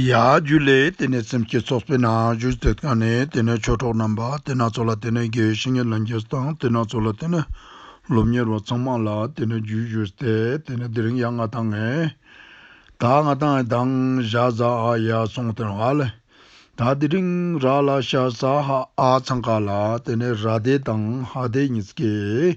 ཡ། རྒྱུད་ལས་དེ་ནས་སེམས་བསྐྱེད་ཚོགས་པའི་ནང་རྒྱུད་གཏེར་ཁ་ནས་དེ་ནས་ཆོས་གྲོགས་རྣམ་པ་དེ་སྣ་ཚོགས་ལ་དེ་ནས་དགེ་བའི་བཤེས་གཉེན་ལ་འགྱེད་དང་དེ་སྣ་ཚོགས་ལ་དེ་ནས་སློབ་གཉེར་བ་ཚང་མ་ལ་དེ་ནས་རྒྱུད་བཞུགས་ཏེ་དེ་ནས་དེ་རིང་ཡ་ང་དང་ངའི་ད་ང་དང་ཨའི་དང་བཞག་བཟའ་ཨ་ཡ་སོང་དེར་ཧ་ལས་ད་དེ་རིང་ར་ལ་ཤ་ཟ་ཧ་ཨ་ཚང་ཁ་ལ་དེ་ནས་ར་དེ་དང་ཧ་དེ་གཉིས་ཀས།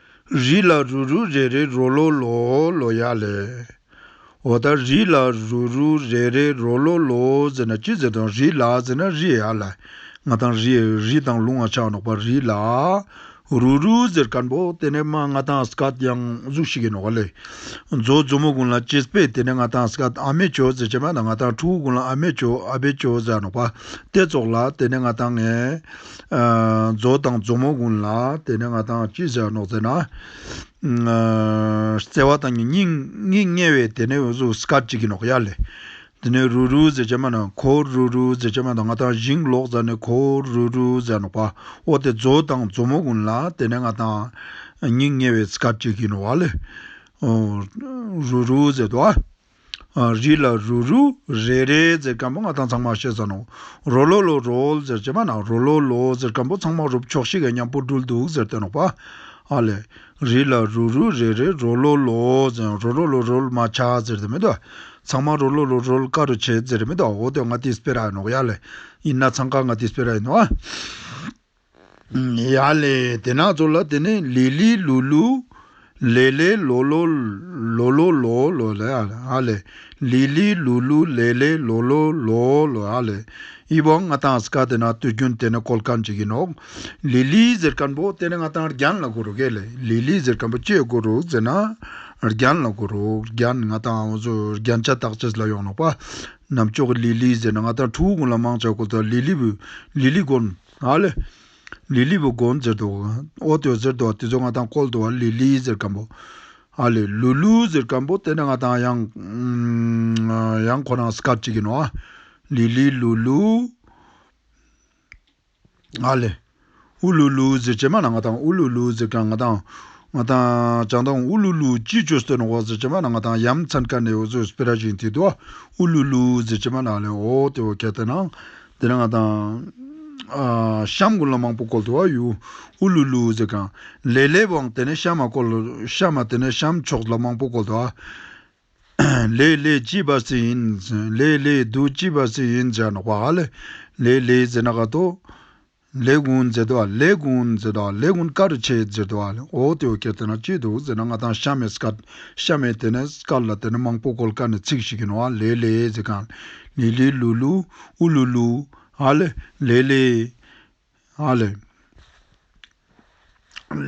རི་ལ་རུ་རུ་རེ་རེ་རོ་ལོ་ལོ་ལོ་ཡག་ལས། འོ་ད་རི་ལ་རུ་རུ་རེ་རེ་རོ་ལོ་ལོ་ཟེར་ན་ཅི་ཟེར་དང་རི་ལ་ཟེར་ན་རི་ཡག་ལས་ང་དང་རི་རི་དང་ལུང་ང་ཆགས་ནོག་པ་རི་ལ་རུ་རུ་ཟེར་དཀར་འབོ་དེ་ནས་མ་ང་དང་སྐལ་ཡང་གཟུགས་ཤིག་ཡིན་ནོག་ག་ལས། མཛོ་མཛོ་མོ་གུང་ལ་ཅེས་སྤེལ་དེ་ནས་ང་དང་སྐལ་ཨ་མེ་ཅོ་ཟེར་བྱས་མ་དང་ང་དང་ཕྲུ་གུ་གུང་ལ་ཨ་མེ་ཅོ་ཨ་བེ་ཅོ་ཟེར་ནོག་པ་སྟེ་ཙོག་ལ་དེ་ནས་ང་དང་ངའི་རྫོགས་དང་རྫོགས་མོ་དགུང་ལ་དེ་ནས་ང་དང་ཅི་བྱ་ནོག་ཙེ་ན། བརྩེ་བ་དང་ནི་སྙིང་དམྱལ་བའི་དེ་ནས་བཟུ་སྐ་ཅིག་གི་ནོག་ཡ་ལས། དེ་ནས་རུ་རུ་ཟེ་བྱེ་མ་ན་གོ་རུ་རུ་ཟེ་བྱེ་མ་དང་ང་དང་བཞིན་ལོག་ཙ་ནས་གོ་རུ་རུ་ཟེ་ནོག་པ་འོ་དེ་རྫོགས་དང་རྫོགས་མོ་དགུང་ལ་དེ་ནས་ང་དང་སྙིང་དམྱལ་བའི་སྐ་ཅིག་གི་ནོག་ཡ་ལས། རུ་རུ་ཟེ་དོ་ཨ། རིགས་ལ་རུ་རུ་རེ་རེ་ཟེར་སྐམ་པོ་ང་དང་ཚང་མ་བཤད་ས་ནོ། རོ་ལོ་ལོ་རོལ་ཟེར་བྱེད་པ་ན་རོ་ལོ་ལོ་ཟེར་སྐམ་པོ་ཚང་མ་རུབ་ཆོག་ཤི་གས་མཉམ་པོ་འགྲུལ་འདུག་ཟེར་དོན་ནོ་བ། ཨ་ལས། རིགས་ལ་རུ་རུ་རེ་རེ་རོ་ལོ་ལོ་ཟེར་རོ་རོ་ལོ་རོལ་མ་ཆ་ཟེར་དེ་མེད་དོ། ཚང་མ་རོ་ལོ་ལོ་རོལ་དཀའ་རུ་བྱེད་ཟེར་རེ་མེད་དོ་འོ་དོད་ང་དེ་སྤེལ་ར་ཡིན་ནོ་ཡ་ལས། ཡིན་ན་ཚང་ཁ་ང་དེ་སྤེལ་ར་ཡིན་ནོ་བ། ཡཱ་ལས་དེ་ནག་ཚོགས་ལ་དེ་ནས་ལི་ལི་ལུ་ལུ། ལེ་ལེ་ལོ་ལོ། ལོ་ལོ་ལོ་ལོ་ལ་ཨ་ལས། ལི་ལི་ལུ་ལུ་ལེ་ལེ་ལོ་ལོ་ལོ་ལོ་ཨ་ལས། ཨི་བོ་ང་དང་སི་ཀ་དེ་ནག་དུས་རྒྱུན་དེ་ནས་གོལ་ཁ་འཇིག་གིན་འོག། ལི་ལི་ཟེར་ཁན་པོ་དེ་ནས་ང་དང་རྒྱན་ལ་གོ་རུག་ཨེ་ལས་ལི་ལི་ཟེར་ཁན་པོ་ཁྱེད་གོ་རུག་ཟེར་ན། རྒྱན་ལ་གོ་རུག་རྒྱན་ང་དང་འོ་ཟོ་རྒྱན་ཆ་བདག་ཆ་སི་ལ་ཡོང་ནོག་པ། ནམ་ཅོག་གི་ལི་ལི་ཟེར་ན་ང་དང་ཁྲུའུ་གུང་ལ་མང་ཆ་གོ་ད་ལི་ལི་བུ། ལི་ལི་དགོན། ཨ་ལས། ལི་ལི་བུ་སྒོ་འཛེར་དུ་བ། ཨོ་ཏོ་ཟེར་དུ་བ་དེ་ཚོ་ང་དང་ཀོལ་དུ་བ་ལི་ལི་ཟེར་སྐམ་པོ། ཨ་ལས། ལུ་ལུ་ཟེར་སྐམ་པོ་དེ་ནི་ང་དང་ཡང། ཡང་ཁོ་རང་སྐབས་གཅིག་ཡིན་ནོ། ཨ་ལི་ལི་ལུ་ལུ། ཨ་ལས། ཨུ་ལུ་ལུ་ཟེར་བྱེ་མ་ན་ང་དང་ཨུ་ལུ་ལུ་ཟེར་སྐམ་ང་དང། ང་དང་ཅང་དང་ཨུ་ལུ་ལུ་ཅི་ཅོ་སྟོན་ཨོ་ཟེར་བྱེ་མ་ན་ང་དང་ཡ་མཚན་ཀ་ནས་ཨོ་ཟེར་སྤེ་ར་བཞིན་དེ་དུ་བ་ཨུ་ལུ་ལུ་ཟེར་བྱེ་མ་ན་ཨ་ལས་ཨོ་ཏོ་ཨོ་ཁ་དེ་ན། འདི་རང་དང། གཤམ་གོ་ལ་མང་པོ་བཀོལ་ཐུབ་བ་ཡོད། ཨུ་ལུ་ལུ་ཟེར་གང། ལེ་ལེ་བང་དེ་ནས་གཤམ་མ་བཀོལ། གཤམ་མ་དེ་ནས་གཤམ་ཕྱོགས་ལ་མང་པོ་བཀོལ་ཐུབ་བ། ལེ་ལེ་ཅི་བ་སི་ཡིན། ལེ་ལེ་རྡུལ་ཅི་བ་སི་ཡིན་ཇ་ནག་པ་ཨ། ལེ་ལེ་ཟེར་ན་ག་ཏོ། ལས་ཀུན་མཛེས་དོ་ལས་ཀུན་མཛེས་དོ་ལས་ཀུན་དཀར་ཆེ་མཛེས་དོ་འོག་ཏུ་གལ་ཏེ་ན་སྐྱིད་འདུག་ཟེར་ན་ང་དང་གཤའ་མས་སྐད། གཤའ་མས་དེ་ནས་སྐད་ལ་དེ་ནས་མང་པོ་གོལ་ཁ་ནས་ཚིག་ཞིག་ཡིན་ནོ་ཨ་ལེ་ལེ་ཟེར་གང། ལི་ལི་ལུ་ལུ་ཨུ་ལུ་ལུ། ཨ་ལེ་ལེ། ཨ་ལེ།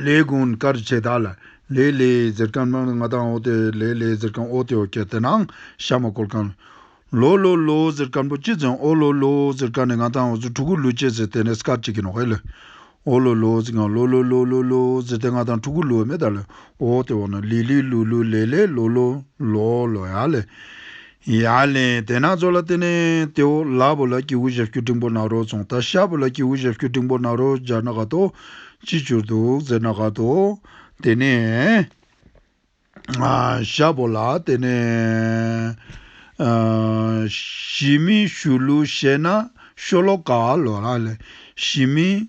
ལས་ཀུན་དཀར་བྱེད་དག་ལ་ལས་ལས་གཟིར་ཁང་ནང་ལ་ང་དང་འོག་ཏུ་ལས་ལས་གཟིར་ཁང་འོག་ཏུ་ཡོད་ཁྱེད་དེ་ནང་ཤ་མ་བསྐོར་ཁང། ལོ་ལོ་ལོ་གཟིར་ཁང་པོ་གཅིག་ཙམ་འོག་ལོ་ལོ་གཟིར་ཁང་ནས་ང་དང་འོག་ཏུ་ཕྲུ་གུ་ལུས་བྱེད་ཟེར་དེ་ནས་སྐར་གཅིག་གི་ནོག་ཧེ་ལོ། འོག་ལོ་ལོ་གཟིར་ཁང་ལོ་ལོ་ལོ་ལོ་ལོ་ཟེར་དེ་ང་དང་ཕྲུ་གུ་ལུས་མེ་དག་ལས་འོག་ཏུ་འོག་ན་ལི་ལི་ལུ་ལུ་ལེ་ལེ་ལོ་ལོ་ལོ་ལོ་ཡ་ལེ། ཡ་ལན། དེ་ན་ཛོ་ལ་ཏེ་ནེ་ཏེ་ཨོ་ལ་བོ་ལ་ཀྱི་འུ་ཞབས་ཀྱུ་འབྲིང་པོ་ན་རོ་ཙོང་ཏ་ཤ་བོ་ལ་ཀྱི་འུ་ཞབས་ཀྱུ་འབྲིང་པོ་ན་རོ་སྦྱར་ན་ག་དོ། ཅི་བྱུར་འདུག་ཟེར་ན་ག་དོ། དེ་ནས། ཤ་བོ་ལ་ཏེ་ནེ། ཞི་མི་ཞུ་ལུ་ཤེ་ན་ཤོ་ལོ་ཀ་ལོ་ལ་ལན། ཞི་མི།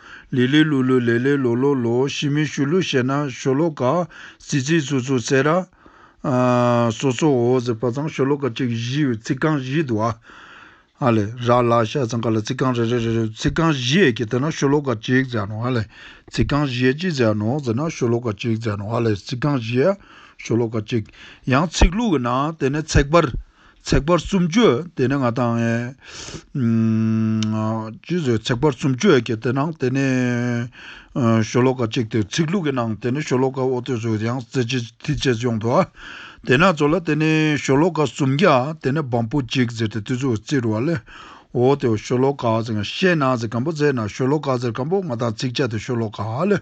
ལི་ལི་ལུ་ལུ་ལེ་ལེ་ལོ་ལོ་ལོ་ཞི་མི་ཞུ་ལུ་ཞེ་ན་ཞོ་ལོ་ཀ། ཙི་ཙི་ཙུ་ཙུ་ཙེ་ར། སོ་སོ་འོ་ཟེར་བ་ཚང་ཞོ་ལོ་ཀ་གཅིག་བཞི་ཡོད་ཚིག་རྐང་བཞི་འདུག་ཨ། ཨ་ལས། ར་ལ་ཤ་ཚང་ཀ་ལ་ཚིག་རྐང་རེ་རེ་རེ་རེ་ཚིག་རྐང་བཞི་ཡས་ཀྱི་དེ་ན་ཞོ་ལོ་ཀ་གཅིག་ཟེར་ནོ་ཨ་ལས། ཚིག་རྐང་བཞི་ཡས་ཅི་ཟེར་ནོ་ཟེར་ན་ཞོ་ལོ་ཀ་གཅིག་ཟེར་ནོ་ཨ་ལས་ཚིག་རྐང་བཞི་ཡས་ཞོ་ལོ་ཀ་གཅིག། ཡང་ཚིག་ལྷུག་གི་ནང་དེ་ནས་ཚེག་བར། ཚེག་བར་གསུམ་བརྗོད་དེ་ནི་ང་དང་ངའི། ཅི་ཟེར་ཚེག་བར་གསུམ་བརྗོད་ཀྱི་དེ་ནང་དེ་ནི། ཤོ་ལོ་ཀ་གཅིག་དེ་ཚིག་ལྷུག་གི་ནང་དེ་ནི་ཤོ་ལོ་ཀ་ཨོ་ཐོས་སུ་ཡང་རྩེ་གཅིག་མཐིལ་གཅིག་ཡོང་དོ། དེ་ནག་ཚོ་ལ་དེ་ནི་ཤོ་ལོ་ཀ་སུམ་བརྒྱ་དེ་ནི་བམ་པོ་གཅིག་ཟེར་ཏེ་མཐིལ་ཆུ་རྩི་རུ་བ་ལས། ཨོ་དེའོ་ཤོ་ལོ་ཀ་ཟེར་ང་ཤེས་ན་ཟེར་གམ་པོ་ཟེར་ན་ཤོ་ལོ་ཀ་ཟེར་གམ་པོ་ང་དང་ཚིག་བཅད་དེ་ཤོ་ལོ་ཀ་ལས།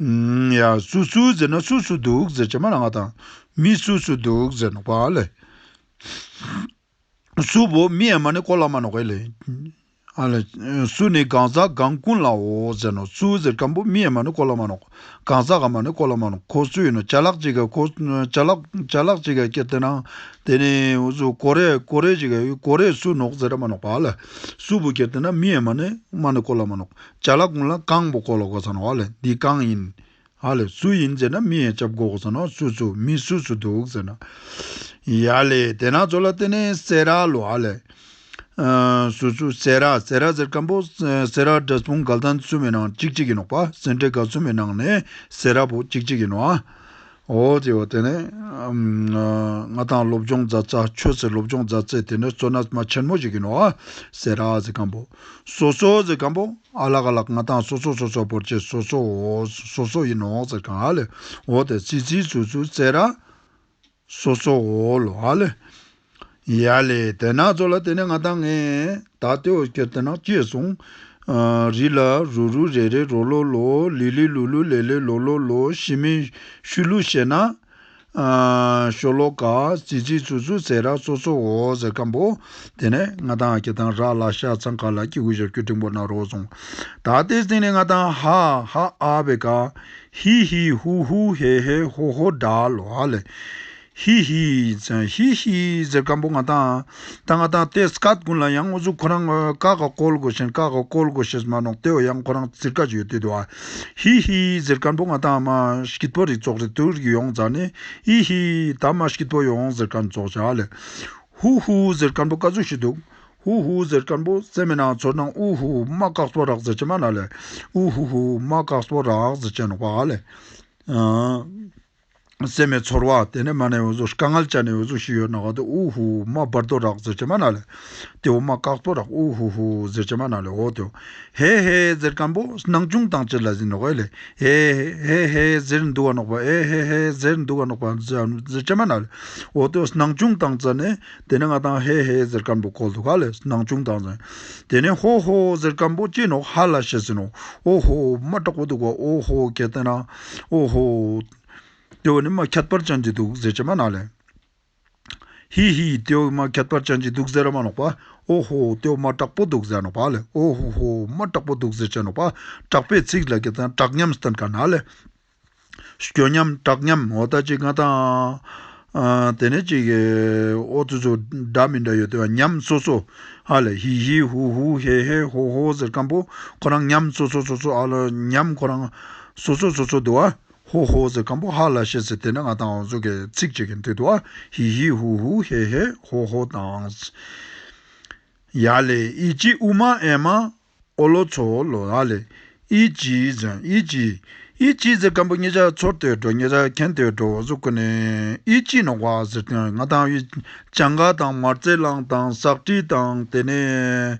ཡ། སུ་སུ་ཟེར་ན་སུ་སུ་འདུག་ཟེར་གྱི་མ་ལ་ང་དང་མི་སུ་སུ་འདུག་ཟེར་ནོག་པ་ལ། སུ་བོ་མི་ཨེ་མ་ནི་ཀོ་ལ་མ་ནོག་ཨེ་ལེ། ཨ་ལ། སུ་ནི་གང་ཟག་གང་ཀུན་ལའོ་ཟེར་ནོག་སུ་ཟེར་གང་བོ་མི་ཨེ་མ་ནི་ཀོ་ལ་མ་ནོག་གང་ཟག་གང་མ་ནི་ཀོ་ལ་མ་ནོག་ཁོ་སུ་ཡིན་ནོ་བྱ་ལག་ཅིག་ཁོ་བྱ་ལག་བྱ་ལག་ཅིག་ཀྱེ་དེ་ན་དེ་ནི་སུ་ཀོ་རེ་ཀོ་རེ་ཅིག་ཀོ་རེ་སུ་ནོག་ཟེར་ར་མ་ནོག་པ་ལ། སུ་བོ་ཀྱེ་དེ་ན་མི་ཨེ་མ་ནི་མ་ནི་ཀོ་ལ་མ་ནོག། བྱ་ལ་གུང་ལ་རྐང་པོ་བསྐོར་ལ་གོ་ས་ན་བ་ལས་འདི་གང་ཡིན། ཧ་ལས་སུ་ཡིན་ཟེར་ན་མི་ཡ་ཅབ་གོ་གོ་ས་ན་བ་སུ་སུ་མི་སུ་སུ་འདུག་ཟེར་ན། ཡ་ལས་དེ་ན་ཚོ་ལ་བསྟན་ནས་སེ་ར་ལོ་ཧ་ལས། སུ་སུ་སེ་ར་སེ་ར་ཟེར་སྐམ་པོ་སེ་ར་འདྲ་སྤུན་སྒལ་ཐང་ཚུན་མི་ནང་ཅིག་ཅིག་ཡིན་ནོག་པ་སེ་འདྲེ་སྒལ་ཚུན་མི་ནང་ནས་སེ་ར་པོ་ཅིག་ཅིག་ཡིན་ནོ་ཨ། འོ་ཅེས་པ་དེ་ནི། ང་དང་སློབ་སྦྱོང་མཛའ་བརྩེ་ཁྱོད་ཚོའི་སློབ་སྦྱོང་མཛའ་བརྩེ་དེ་ནི་གཙོ་ན་མ་ཆེན་མོ་ཞིག་ཡིན་ནོ། ཟེར་ཨ་ཟེར་སྐམ་པོ། སོ་སོ་ཟེར་སྐམ་པོ། ཨ་ལགས་ཨ་ལགས་ང་དང་སོ་སོ་སོ་སོ་བོར་བྱས་སོ་སོ་འོ། སོ་སོ་ཡིན་ནོ་ཟེར་སྐམ་ཨ་ལས་འོ་དེ་ཙི་ཙི་ཙུ་ཙུ་ཟེར་ཨ། སོ་སོ་འོ་ལོ་ཨ་ལས། ཡ་ལེ་དེ་ནག་ཚོ་ལ་དེ་ནས་ང་དང་ངའི་ད་ལྟའི་འོ་སྐལ་དེ་ནག་སྐྱེས་སོང། རི་ལ་རུ་རུ་རེ་རེ་རོ་ལོ་ལོ་ལི་ལི་ལུ་ལུ་ལེ་ལེ་ལོ་ལོ་ལོ་ཤི་མི་ཤུ་ལུ་ཤེ་ན། ཤོ་ལོ་ཀ་ཙི་ཙི་ཙུ་ཙུ་ཟས་རག་ཙོ་ཙོ་འོ་ཟེར་སྐམ་པོ། དེ་ནས་ང་དང་ཨ་ཁྱི་དང་རག་ལ་ཤ་ཚ་མཁའ་ལ་སྐྱི་གུ་ཞབས་ཀྱུ་འབྲིང་པོ་ནག་རོ་སོང། ད་ལྟའི་སྟེང་ནས་ང་དང་ཧ་ཧ་ཨ་བེ་ཀ། ཧི་ཧི་ཧུ་ཧུ་ཧེ་ཧེ་ཧོ་ཧོ་སྒྲ་ལ་ལེ། ཧི་ཧི་ཛ་ཧི་ཧི་ཛ་སྐམ་པོ་ང་དང་ད་ང་དང་ཏེ་སྐད་དགུ་ལ་ཡང་ཨུ་ཛུ་ཁོ་རང་ཀ་ག་ཀོལ་དགོ་ཞིང་ཀ་ག་ཀོལ་དགོ་ཞེས་སྨྲ་ནོག་ཏེའོ་ཡང་ཁོ་རང་ཙིར་ཀ་ཇོས་ཏེ་དུ་ཧི་ཧི་ཛ་སྐམ་པོ་ང་དང་མ་སྐྱིད་པོ་རིག་ཙོག་རིག་ཏུ་རིག་ཡོང་ཛ་ནི་ཧི་ཧི་ད་མ་སྐྱིད་པོ་ཡོང་ཛ་སྐམ་ཙོག་ཅག་ལས་ཧུ་ཧུ་ཛ་སྐམ་པོ་ཀ་ཛུ་ཤི་འདུག་ཧུ་ཧུ་ཛ་སྐམ་པོ་ཙེ་མི་ནང་ཚོར་ནང་ཨུ་ཧུ་མ་ཀག་ཙོ་རག་ཛ་ཅེ་མ་ན་ལས་ཨུ་ཧུ་ཧུ་མ་ཀག་ཙོ་རག་ཛ་ཅེ་ནོག་པ་ལས། སེམས་མའི་ཚོར་བ་དེ་ནི་མ་ནའི་འོད་ཟོར་ཀ་ངལ་ལྕགས་ནས་འོད་ཟོར་ཞུ་ཡོད་ན་ག་དུ་ཨུ་ཧུ་ཧུ་མ་སྦར་དོ་རག་ཟེར་གྱི་མ་ན་ལེ། དེ་འོ་མ་བཀག་དོ་རག་ཨུ་ཧུ་ཧུ་ཟེར་གྱི་མ་ན་ལེ་ཧོ་དོ། ཧེ་ཧེ་ཟེར་སྐམ་པོ་སྣང་ཆུང་དང་བཅས་ལ་ཟིན་ནོ་ཨེ་ལེ། ཧེ་ཧེ་ཧེ་ཟེར་འདུ་བ་ནོག་པ་ཨེ་ཧེ་ཧེ་ཟེར་འདུ་བ་ནོག་པ་ཟེར་གྱི་མ་ན་ལེ་ཧོ་དོ་སྣང་ཆུང་དང་བཅས་ནས་དེ་ནི་ང་དང་ཧེ་ཧེ་ཟེར་སྐམ་པོ་གོལ་དུ་ག་ལེ་སྣང་ཆུང་དང་བཅས་དེ་ནི་ཧོ་ཧོ་ཟེར་སྐམ་པོ་སྐྱེས་ནོག་ཧ་ལ་ཤེས་ཟིན་ནོ་ཨོ་ཧོ་མ་དྲག་པོ་འདུག་བ་ཨོ་ཧོ་གལ་ཏེ་ན། ཨོ་ཧོ། ཏེའོ་ནི་མ་ཁྱད་པར་ཅན་གྱི་དུག་ཟེར་གྱི་མ་ནག་ལས། ཧི་ཧི། ཏེའོ་མ་ཁྱད་པར་ཅན་གྱི་དུག་ཟེར་མ་ནག་པ། ཨོ་ཧོ། ཏེའོ་མ་དྲག་པོ་དུག་ཟེར་ནག་པ་ལས། ཨོ་ཧོ་ཧོ། མ་དྲག་པོ་དུག་ཟེར་གྱི་ནག་པ། དྲག་པའི་ཚིག་ལས་ཀྱི་དང་དྲག་ཉམས་སྟོན་ཀ་ནག་ལས། སྐྱོ་ཉམས་དྲག་ཉམས་འོ་ད་ཅི་ང་དང། དེ་ནས་ཅིག། ཨོ་ཙི་ཙོ། སྒྲ་མི་འདྲ་ཡོད་དོ་ཉམས་སོ་སོ། ཧ་ལས་ཧི་ཧི་ཧུ་ཧུ་ཧེ་ཧེ་ཧོ་ཧོ་ཟེར་སྐམ་པོ། ཁོ་རང་ཉམས་སོ་སོ་སོ་སོ་ཨ་ལ་ཉམས་ཁོ་རང། སོ་སོ་སོ་སོ་དུ་བ། ཧོ་ཧོ་ཟེར་སྐམ་པོ་ཧ་ལ་ཤེས་ཟེར་དེ་ནས་ང་དང་ཨོ་ཙོ་གས་ཚིག་གཅིག་གི་མཐིལ་དུ་བ། ཧི་ཧི་ཧུ་ཧུ་ཧེ་ཧེ་ཧོ་ཧོ་དང། ཡ་ལས་ཨི་ཅི་ཨུ་མ་ཨེ་མ། ཨོ་ལོ་ཚོ་ཨོ་ལོ་ཨ་ལེ། ཨི་ཅི་ཛི་ཨི་ཅི། ཨི་ཅི་ཛི་སྐམ་པོ་ཉེ་ཆར་ཚོར་ལྟོས་འགྲོ་ཉེ་ཆར་མཁྱེན་ལྟོས་འགྲོ་འོ་ཟོ་ཀུ་ནེ། ཨི་ཅི་ནོ་ཝ་ཟེར་ཏེ་ང་དང་ཨི། བྱང་ཁ་དང་མར་རྩེ་གླང་དང་ཟག་བྲིས་དང་དེ་ནས།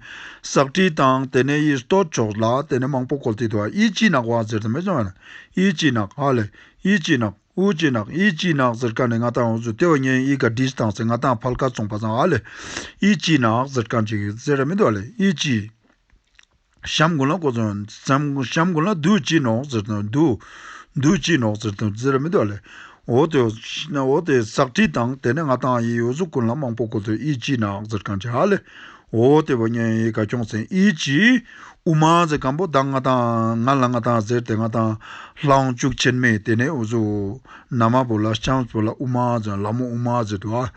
ཟག་བྲིས་དང་དེ་ནས་ཨི་ལྟོ་ཆོག་ལ་དེ་ནས་མང་པོ་གོ་ལྟོས་འདུག་ཨི་ཅི་ནག་ཝ་ཟེར་ཏེ་མི་ཟོ་ཨ་ལེ། ཨི་ཅི་ནག་ཨ་ལེ། ཨི་ཅི་ནག། ཨུ་ཅེ་ནག་ཨི་ཅི་ནག་ཟེར་ཀ་ནི་མངའ་ཐང་ཨུ་ཟུ་ཏེ་བ་ཉན་ཨི་ག་དྲིས་དང་ཟེར་མངའ་ཐང་ཕལ་ཁ་ཙོང་པ་ཟང་ཨ་ལེ་ཨི་ཅི་ནག་ཟེར་ཀ་འཇིག་ཟེར་ར་མི་དོ་ཨ་ལེ་ཨི་ཅི། ཤམ་དགུན་ལ་ཀོ་ཙོང་ཟེར་ཤམ་དགུན་ལ་རྡུལ་ཅི་ནོག་ཟེར་དོ་རྡུལ། རྡུལ་ཅི་ནོག་ཟེར་དོ་ཟེར་ར་མི་དོ་ཨ་ལེ་ཨོ་ཏེ་ཨོ་ཏེ་ཟག་དྲིས་དང་དེ་ནི་མངའ་ཐང་ཨི་ཨུ་ཟུ་ཀུན་ལ་མང་པོ་ཀོ་ཙོང་ཨི་ཅི་ནག་ཟེར་ཀ་འཇིག་ཨ་ལེ་འོ་དེ་བ་ཉན་ཡིག་ག་ཁྱོང་ཚན་ཨི་ཅི། དབུ་མ་ཛེ་སྒམ་པོ་བདག་ང་དང་ང་ལ་ང་དང་ཟེར་དེ་ང་དང་ལྷང་བཅུག་ཆེར་མེད་དེ་ནས་འུ་ཟུ། ན་མ་བོ་ལ་ལྕམ་བོ་ལ་དབུ་མ་ཛེ་ལ་མོ་དབུ་མ་ཛེ་དུ་ཨ།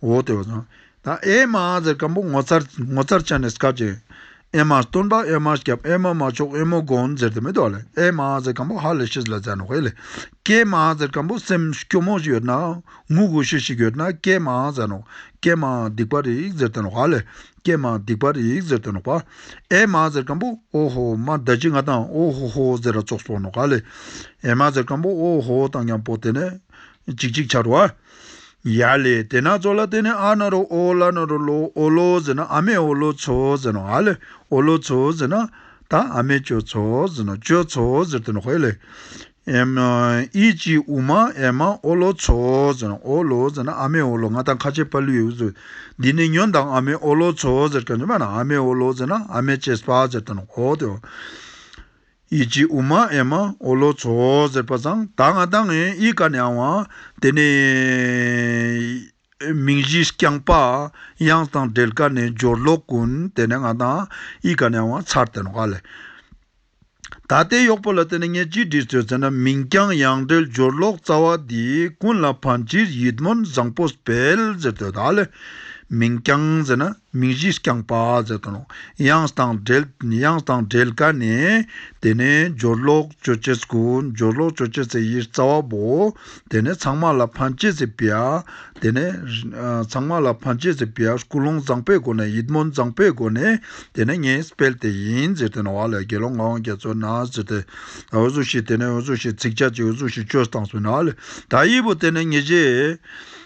འོ་དེ་བ་ཛོ། ད་ཨེ་མ་ཛེ་སྒམ་པོ་ངོ་ཚར་ངོ་ཚར་ཆ་ནས་སྐབས་ཅན། ཨེ་མ་སྟོན་པ་ཨེ་མ་སྐྱབས་ཨེ་མ་མ་མཆོག་ཨེ་མོ་དགོན་ཛེར་དེ་མེད་དོ་ཨེ་མ་ཛེ་སྒམ་པོ་ཧ་ལས་ཤིས་ལ་ཛེ་ནོ་ཧེ་ལེ། ཀེ་མ་ཛེ་སྒམ་པོ་སེམས་སྐྱོ་མོ་ཞིག་ཡོད་ན་ངུ་དགོས་ཤེས་ཤིག་ཡོད་ན་སྐད་མང་ཟེར་ནོ། སྐད་མང་སྡིག་པ་རིག་ཟེར་དོན་བྷ་ལས། སྐད་མང་སྡིག་པ་རིག་ཟེར་དོན་བྷ། ཨེ་མ་ཟེར་སྐམ་པོ་ཨོ་ཧོ་མ་ད་ཅི་ང་དང་ཨོ་ཧོ་ཧོ་ཟེར་ར་ཙོག་སོང་ནོ་ག་ལས། ཨེ་མ་ཟེར་སྐམ་པོ་ཨོ་ཧོ་དང་ཀྱང་པོ་དེ་ནས། ཅིག་ཅིག་ཆར་བ། ཡ་ལས་དེ་ན་ཙོག་ལ་དེ་ནས་ཨ་ན་རོ་ཨོ་ལ་ན་རོ་ལོ་ཨོ་ལོ་ཟེར་ན་ཨ་མས་ཨོ་ལོ་ཚོ་ཟེར་ནོ་ཨ་ལས་ཨོ་ལོ་ཚོ་ཟེར་ན། ད་ཨ་མས་ཅོ་ཚོ་ཟེར་ནོ་ཅོ་ཚོ་ཟེར་དོན་བྷེ་ལས། ཨི་ཅི་ཨུ་མ་ཨེ་མ་ཨོ་ལོ་ཚོ། ཨོ་ལོ། ཨ་མེ་ཨོ་ལོ་ང་དང་ཁ་ཆེ་པཱ་ལུའི་ཨུ། འདི་ནི་ཉོན་དང་ཨ་མེ་ཨོ་ལོ་ཚོ། ཨ་མེ་ཨོ་ལོ། ཨ་མེ་ཅེས་པ། ཨི་ཅི་ཨུ་མ་ཨེ་མ་ཨོ་ལོ་ཚོ། བ་ཚང་ད་ང་ད་ངའི་ཨི་ཀ་ནས་ཨང་བ། དེ་ནི། མིང་གཞི་རྐྱང་པ། དབྱངས་དང་སྦྲེལ་ཀ་ནི་སྦྱོར་ལོག་ཀུན། དེ་ནས་ང་དང་ཡིད་ག་མྱང་བ་མཚར་དོན་དགའ་ལས། ད་ལྟའི་གཡོག་པོ་ལ་བརྟེན་ནས་ངས་ཅི་བྲིས་ཚོད་ཟེར་ན་མིང་རྐྱང་དབྱངས་སྦྲེལ་སྦྱོར་ལོག་རྩ་བ་འདི་ཀུན་ལ་ཕན་ཕྱིར་ཡིད་སྨོན་བཟང་པོ་སྤེལ་ཟེར་དོན་དགའ་ལས། མིང་རྐྱང་ཟེར་ན། མིང་གཞི་རྐྱང་པ་ཟེར་དང་དབྱངས་དང་སྦྲེལ་དབྱངས་དང་སྦྲེལ་དཀའ་ནས། དེ་ནས་སྦྱོར་ཀློག་སྤྱོད་བྱེད་ཚུལ་གོ། སྦྱོར་ཀློག་སྤྱོད་བྱེད་ཚུལ་གྱི་རྩ་བ་པོ། དེ་ནས་ཚང་མ་ལ་ཕན་བྱེད་ཚུལ་པའི། དེ་ནས། ཚང་མ་ལ་ཕན་བྱེད་ཚུལ་པའི་ཀུན་སློང་བཟང་པོའི་སྒོ་ནས་ཡིད་སྨོན་བཟང་པོའི་སྒོ་ནས་དེ་ནས་ངས་སྤེལ་དེ་ཡིན་ཟེར་དེ་ནས་བ་ལས་དགེ་སློང་ངག་དབང་རྒྱ་མཚོས་ན་ཟེར་དེ། འོད་སྲུངས་ཞེས་དེ་ནས་འོད་སྲུངས་ཞེས་ཚིག་བྱ་གཅིག་འོད་སྲུངས་ཞེས་བཅོས་སྟངས་སུ་ན་ལས། དག་ཡིག་པོ་དེ་ནས་ངེས་བྱེད།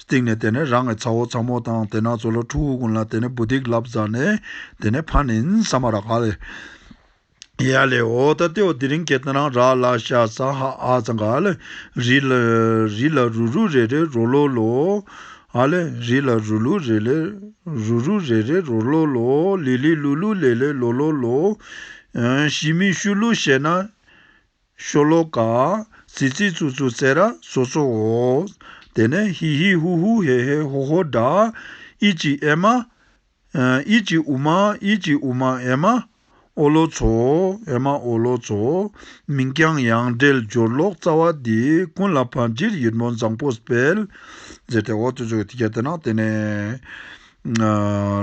བཏེགས་ནས་དེ་ནས་རང་གི་ཚ་བོ་ཚ་མོ་དང་དེ་ནག་ཚོ་ལ་ཕྲུ་གུ་ཀུན་ལ་དེ་ནས་བུ་ཏིག་ལབ་བཟའ་ནས་དེ་ནས་ཕ་ནིན་ས་མ་ར་ག་ལེ། ཡ་ལེ་ཨོ་ད་ཏེ་ཨོ་དི་རིང་ཀེ་ཏི་རང་ར་ལ་ཤ་ས་ཧ་ཨ་ཚ་ག་ལེ། རི་ལ་རི་ལ་རུ་རུ་རེ་རེ་རོ་ལོ་ལོ། ཨ་ལེ། རི་ལ་རུ་ལུ་རི་ལེ་རུ་རུ་རེ་རེ་རོ་ལོ་ལོ། ལི་ལི་ལུ་ལུ་ལེ་ལེ་ལོ་ལོ་ལོ། ཤི་མི་ཤུ་ལུ་ཤེ་ན། ཤོ་ལོ་ཀ། ཙི་ཙི་ཙུ་ཙུ་ཙེ་ར་ཙོ་ཙོ་འོ། དེ་ནས་ཧི་ཧི་ཧུ་ཧུ་ཧེ་ཧེ་ཧོ་ཧོ་སྒྲ། ཨི་ཅི་ཨེ་མ། ཨི་ཅི་ཨུ་མ་ཨི་ཅི་ཨུ་མ་ཨེ་མ། ཨོ་ལོ་ཚོ་ཨེ་མ་ཨོ་ལོ་ཚོ། མིང་རྐྱང་ཡང་འབྲེལ་སྦྱོར་ཀློག་རྩ་བ་འདི་ཀུན་ལ་བར་འཇིར་ཡིད་སྨོན་བཟང་པོ་སྤེལ། ཟེར་ཏེ་འོ་ཙོ་ཙོ་གི་ཐིག་སྐྱ་བསྟན་ན་དེ་ནི་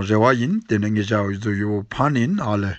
རེ་བ་ཡིན་དེ་ནི་ངེད་ཅག་ཡུལ་ཚོ་ཡུལ་བོ་ཕ་ནིན་ཨ་ལས།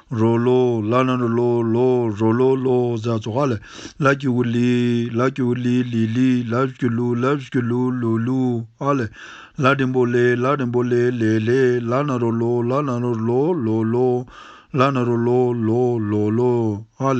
རོ་ལོ་ལ་ལ་རོ་ལོ་ལོ་རོ་ལོ་ལོ་ཟ་ཟོ་ཧ་ལ་ལ་ཀྱི་ཝུ་ལི་ལ་ཀྱི་ཝུ་ལི་ལི་ལི་ལ་བཞི་ཀྱི་ལུ་ལ་བཞི་ཀྱི་ལུ་ལུ་ལུ་ཨ་ལ་ལ་རིན་པོ་ལེ་ལ་རིན་པོ་ལེ་ལེ་ལེ་ལ་ན་རོ་ལོ་ལ་ན་རོ་ལོ་ལོ་ལོ་ལ་ན་རོ་ལོ་ལོ་ལོ་ལོ་ཨ་ལ་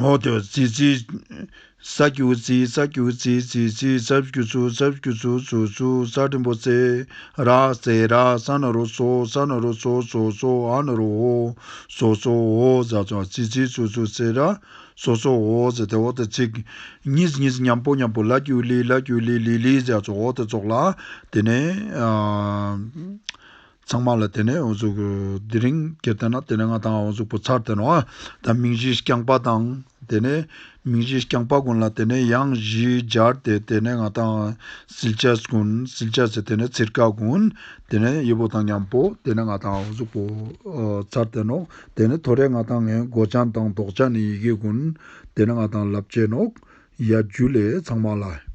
འོག་ཏུ་རྩི་རྩི། རྩྭ་སྐྱུག་རྩི་རྩྭ་སྐྱུག་རྩི་རྩི་རྩི་རྩྭ་སྐྱུག་ཆུ་རྩྭ་སྐྱུག་ཆུ་ཆུ་ཆུ་རྩྭ་འགྲིམ་པོ་རྩེ་ར་རྩེ་ར་རྩྭ་ནོར་བུ་ཚོ་རྩྭ་ནོར་བུ་ཚོ་ཚོ་ཚོ་ཨ་ནོར་བུ་འོ་ཚོ་ཚོ་འོ་རྩྭ་རྩྭ་རྩི་རྩི་ཆུ་ཆུ་རྩེ་ར་ཚོ་ཚོ་འོ་རྩེ་དེ་འོག་ཏུ་རྩིག། གཉིས་གཉིས་མཉམ་པོ་མཉམ་པོ་ལ་སྐྱུག་ལི་ལ་སྐྱུག་ལི་ལི་ལི་རྩྭ་ཚོ་འོག་ཏུ་བཙོག་ལ་དེ་ནས། ཚང་མ་ལ་དེ་ནས་འོ་གཟུགས། དེ་རིང་གི་སྟེང་ན་དེ་ནས་ང་དང་འོ་གཟུགས་པོ་ཚར་དེ་ནོ། དང་མིང་གཞིའི་རྐྱང་པ་དང། དེ་ནས། མིང་གཞིའི་རྐྱང་པ་ཀུན་ལ་དེ་ནས་གཡང་གཞི་སྦྱར་ཏེ་དེ་ནས་ང་དང། སིལ་ཆ་ཀུན། སིལ་ཆ་ཟེར་དེ་ནས་ཚིལ་ཀ་ཀུན། དེ་ནས་གཡུ་བོ་དང་མཉམ་པོ་དེ་ནས་ང་དང་འོ་གཟུགས་པོ། ཚར་དེ་ནོ། དེ་ནས་ཐོ་རེ་ང་དང་ངའི་མགོ་བྱང་དང་མདོག་བྱང་ནི་ཡི་གེ་ཀུན། དེ་ནས་ང་དང་ལབ་བྱེད་ནོ། ཡ་རྒྱུད་ལས་ཚང་མ་ལ།